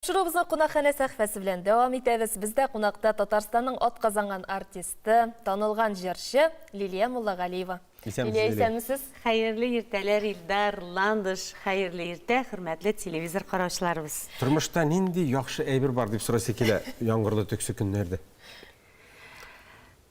Чыгуыбызны кунакханә сәхфәсе белән дәвам итәбез. Бездә кунакта Татарстанның атказанган артисты, танылган җырчы Лилия Муллагалиева. Исәнмесез, Лилия! Лилия, исәнмесез! Хәерле иртәләр, Илдар, Ландыш! Хәерле иртә, хөрмәтле телевизор караучыларыбыз! Тормышта нинди яхшы әйбер бар, дип сорыйсы килә яңгырлы төксе көннәрдә?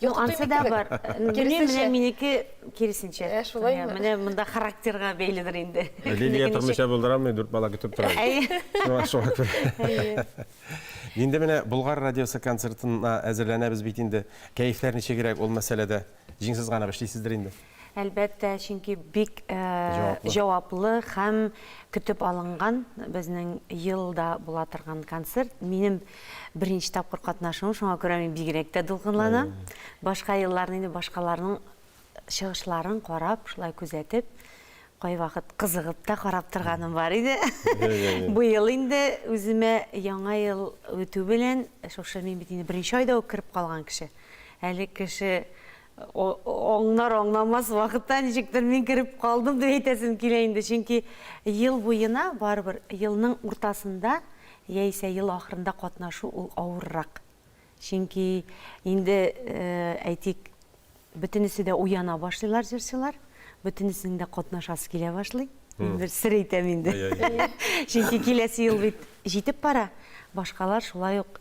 Юк, ансы да бар. Киресенчә. Менә минеке киресенчә. Ә, шулаймы? Менә монда характерга бәйледер инде. Лилия тормыйча булдырамый, дүрт бала көтеп тора. Әйе. Шуңа күрә. Инде менә Болгар радиосы концертына әзерләнәбез бит инде. Кәефләр ничегрәк ул мәсьәләдә? Җиңсез гына эшлисездер инде. Әлбәттә, чөнки бик җаваплы һәм көтеп алынган безнең елда була торган концерт. Минем беренче тапкыр катнашуым, шуңа күрә мин бигрәк тә дулкынланам. Башка елларны инде башкаларның чыгышларын карап, шулай күзәтеп, кайвакыт кызыгып та карап торганым бар иде. Быел инде үземә яңа ел үтү белән, шушы мин бит инде беренче айда ук кереп калган кеше. Әле кеше Аңнар-аңнамас вакытта ничектер мин кереп калдым дип әйтәсем килә инде, чөнки ел буена барыбер елның уртасында яисә ел ахырында катнашу ул авыррак. Чөнки инде, әйтик, бөтенесе дә уяна башлыйлар җырчылар, бөтенесенең дә катнашасы килә башлый. Мин бер сер әйтәм инде. Чөнки киләсе ел бит җитеп бара, башкалар шулай ук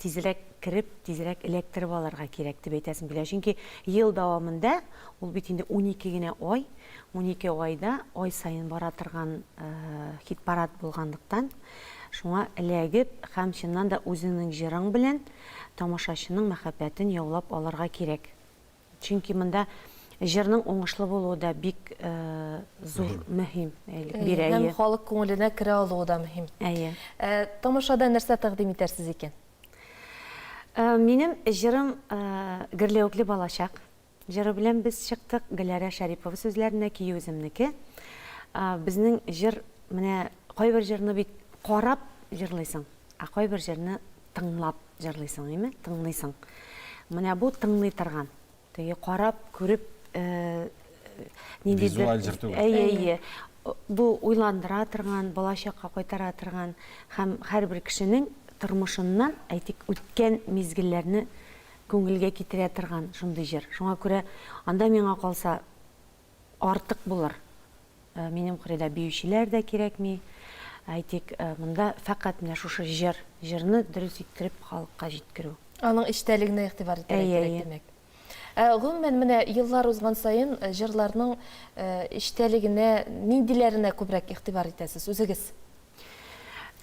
Тизрәк кереп, тизрәк эләктереп алырга кирәк, дип әйтәсем килә. Чөнки ел дәвамында, ул бит инде унике генә ай, унике айда ай саен бара торган хит-парад булганлыктан, шуңа эләгеп һәм чыннан да үзеңнең җырың белән тамашачының мәхәббәтен яулап алырга кирәк. Чөнки монда җырның уңышлы булуы да бик зур мөһим. Бирәе. Һәм халык күңеленә керә алуы да мөһим. Әйе. Тамашада нәрсә тәкъдим итәрсез икән? Минем җырым Гөрләвекле балачак җыры белән без чыктык. Гөләра Шәрипова сүзләренә, көе үземнеке. Безнең җыр, менә кайбер җырны бит карап җырлыйсың, ә кайбер җырны тыңлап. Җырлыйсың име, тыңлыйсың. Менә бу тыңлый торган. Теге карап, күреп, ниндидер... Визуаль җыр түгел. Әйе, әйе. Бу уйландыра торган, балачакка кайтара торган һәм һәрбер кешенең тормышыннан, әйтик, үткән мизгелләрне күңелгә китерә торган шундый җыр. Шуңа күрә анда миңа калса, артык булыр. Минем кырыйда биючеләр дә кирәкми. Әйтик, монда фәкать менә шушы җыр, җырны дөрес иттереп халыкка җиткерү. Аның эчтәлегенә игътибар итәргә кирәк, димәк. Әйе, әйе. Гомумән, менә еллар узган саен җырларның эчтәлегенә, ниндиләренә күбрәк игътибар итәсез үзегез?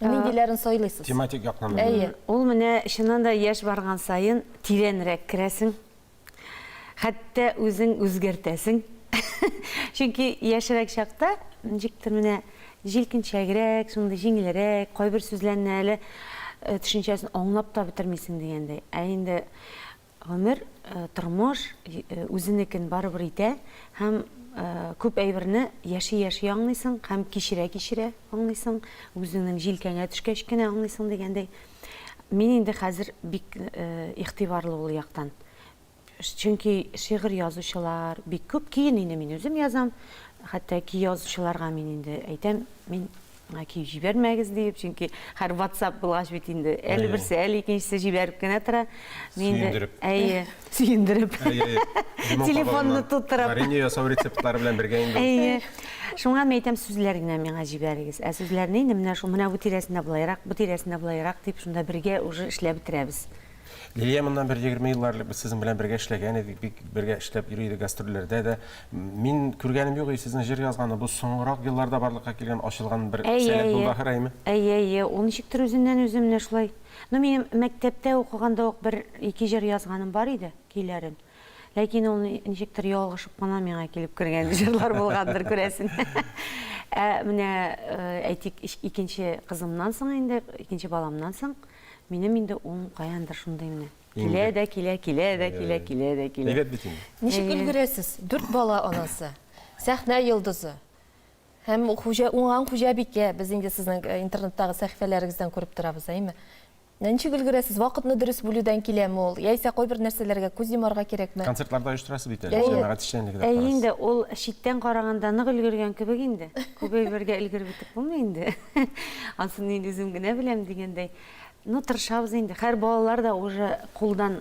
Ниндиләрен сайлыйсыз? Тематик яктан. Әйе. Ул менә чыннан да яшь барган саен тирәнрәк керәсең, Хәтта үзең үзгәртәсең. Чөнки яшьрәк чакта ничектер менә җилкенчәгрәк, шундый җиңелрәк, кайбер сүзләрне әле э, төшенчәсен аңлап та бетермисең дигәндәй. Ә инде гомер, э, тормыш э, үзенекен барыбер итә һәм күп әйберне яши-яши аңлыйсың һәм кичерә-кичерә аңлыйсың, үзеңнең җилкәңә төшкәч кенә аңлыйсың дигәндәй. Мин инде хәзер бик игътибарлы ул яктан. Чөнки шигырь язучылар бик күп. Киен инде мин үзем язам. Хәтта ки язучыларга мин инде әйтәм, мин ки җибәрмәгез диеп, чөнки һәр WhatsApp булгач бит инде әле берсе, әле икенчесе җибәреп кенә тора. Сөендереп. Әйе. сөендереп. Телефонны туттырып. Варенье ясау рецептлары белән бергә инде. Әйе. Шуңа мин әйтәм, сүзләр генә миңа җибәрегез. Ә сүзләрне инде менә шул, менә бу тирәсендә болайрак, бу тирәсендә болайрак дип, шунда бергә уже эшләп бетерәбез. Лилия, моннан бер 20 ел элек без сезнең белән бергә эшләгән идек, бик бергә эшләп йөри идек гастрольләрдә дә. Мин күргәнем юк, сезнең җыр язганда бу соңгырак елларда барлыкка килгән, ачылган бер сәләт булды ахыр, әйеме? Әйе, әйе. Ул ничектер үзеннән-үзе менә шулай. Ну, минем мәктәптә укыганда ук бер ике җыр язганым бар иде, көйләрен. Ләкин ул ничектер ялгышып кына миңа килеп кергән җырлар булгандыр, күрәсен. Ә менә, әйтик, икенче кызымнан соң инде, икенче баламнан соң, минем инде ул каяндыр шундый менә. Килә дә килә, килә дә килә, килә дә килә. Әйбәт бит инде. Ничек өлгерәсез? Дүрт бала анасы, сәхнә йолдызы. Һәм хуҗа уңган хуҗабикә, без инде сезнең э, интернеттагы сәхифәләрегездән күреп торабыз, әйме? Менә ничек өлгерәсез? Вакытны дөрес бүлүдән киләме ул? Яисә кайбер нәрсәләргә күз йомарга кирәкме? Концертларда оештырасыз бит әле, Әйе. җәмәгать эшчәнлеге дә Әй карарсыз. инде ул читтән караганда нык өлгергән кебек инде. Күп әйбергә өлгереп бетеп булмый инде. Ансын инде үзем генә беләм дигәндәй. Ну, тырышабыз инде. Хәер, балалар да уже кулдан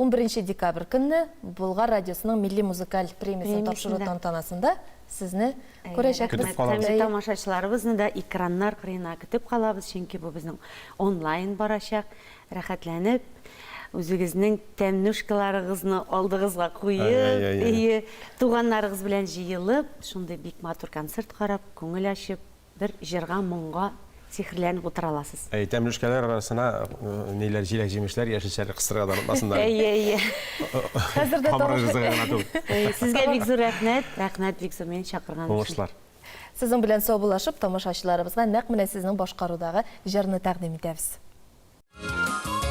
Унберенче декабрь көнне Болгар радиосының милли музыкаль премиясен тапшыру тантанасында сезне күрәчәкбез. Һәм тамашачыларыбызны да экраннар кырыена көтеп калабыз, чөнки бу безнең онлайн барачак. Рәхәтләнеп, үзегезнең тәмнушкаларыгызны алдыгызга куеп, әйе, туганнарыгыз белән җыелып, шундый бик матур концерт карап, күңел ачып, Бер җырга, моңга сихерләнеп утыра аласыз. Әйе, тәмлүшкәләр арасына ниләр, җиләк-җимешләр, яшелчәләр кыстырырга да онытмасыннар. Әйе, әйе. Хәзер дә тамак ризыгы гына түгел. Әйе, сезгә бик зур рәхмәт. Рәхмәт бик зур мине чакырган өчен. Уңышлар. Сезнең белән саубуллашып, тамашачыларыбызга нәкъ менә сезнең башкарудагы җырны тәкъдим итәбез.